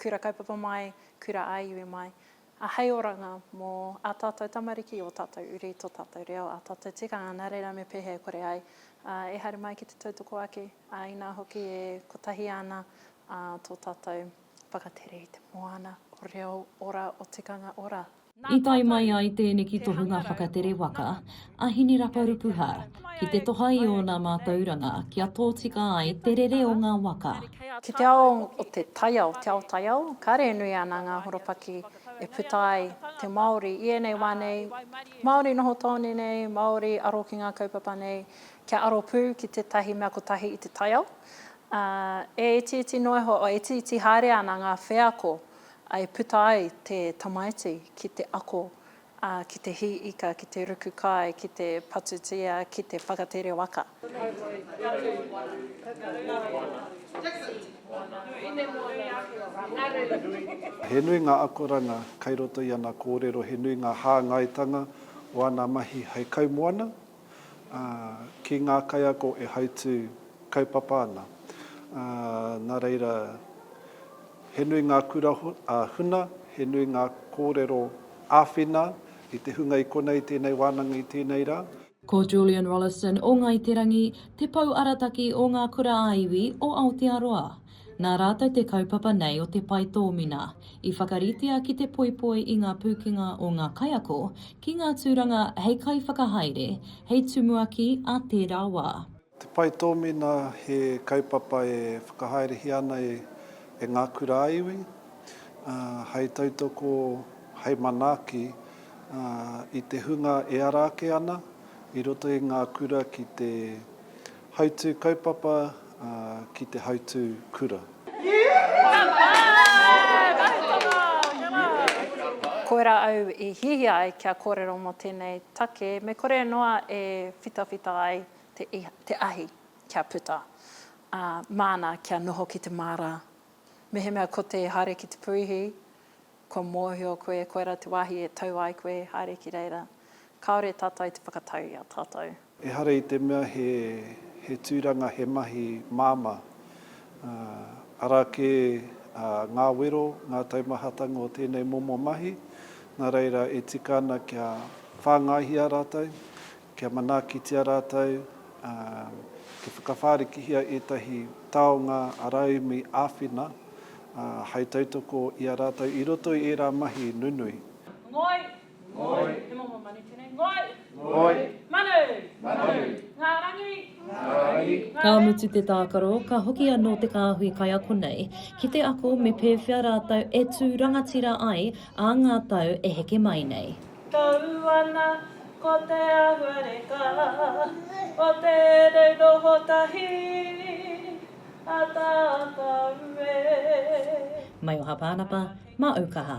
Kura Kaupapa mai, Kura ā Iwi mai, a hei oranga mō ā tātou tamariki, ō tātou uri, tō tātou reo, ā tātou tikanga, nā reira me pēhea e kore ai e haere mai ki te tautoko ake, ā, inā hoki e kotahi ana tō tātou whakatere i te moana o reo ora, o tikanga ora. I tae mai ai tēneki tohunga whakatere waka a Hineraparupuha ki te toha i ōna mātauranga kia tōtika ai te rere o ngā waka. Ki te ao o te taiao, te ao taiao, kāre e nui ana ngā horopaki e puta ai te Māori i ēnei wā nei, Māori noho tāone nei, Māori aro ki ngā kaupapa nei, kia aro pū ki tētahi mea kotahi i te taiao. E itiiti noa iho, e itiiti haere ana ngā wheako I puta ai te tamaiti ki te ako, ā, ki te hī ika, ki te ruku kai, ki te patutia, ki te whakatere waka. He nui ngā akoranga kai roto i ana kōrero, he nui ngā hāngaitanga o ana mahi hei kaimoana, ā, ki ngā kaiako e hautū kaupapa ana, ā, nā reira, he nui ngā kura huna, he nui ngā kōrero āwhina i te hunga i konei tēnei wānanga i tēnei rā. Ko Julian Rolleston o Ngāi Te Rangi te pou arataki o Ngā Kura ā-Iwi o Aotearoa. Nā rātou te kaupapa nei o te pae tōmina, i whakaritea ki te poipoi i ngā pūkenga o ngā kaiako ki ngā tūranga hei kaiwhakahaere, hei tumuaki a tērā wā. Te pae tōmina he kaupapa e whakahaerehia ana e ngā kura-a-iwi, hei tautoko, hei manaaki i te hunga e ara ake ana i roto i ngā kura ki te Hautū kaupapa ki te hautū kura. Koirā au i hiahia ai kia kōrero mō tēnei take me kore noa e whitawhita ai te ahi kia puta, ā, māna kia noho ki te māra. Mehemea ko te haere ki te puihi, kua mōhio koe koirā te wāhi e tau ai koe haere ki reira. Kāore tātou te whakatau i a tātou. Ehara i te mea he tūranga, he mahi māmā, arā kē ngā wero, ngā taumahatanga o tēnei momo mahi, nā reira e tika ana kia whāngaihia rātou, kia manaakitia rātou, kia whakawhārikihia ētahi taonga rauemi āwhina hai tautoko i a rātou i roto i ērā mahi nunui. Ngoi, Ngoi. Te momo manu tēnei. Ngoi. Ngoi. Manu. Manu. Ngā rangi. Ngā rangi. Ka mutu te tākaro, ka hoki anō te kāhui kaiako nei ki te ako me pēwhea rātou e tū rangatira ai ā ngā tau e heke mai nei. Tau ana ko te ahuareka o tēnei noho tahi a tātou e. Maioha Pānapa, Mā Ūkaha.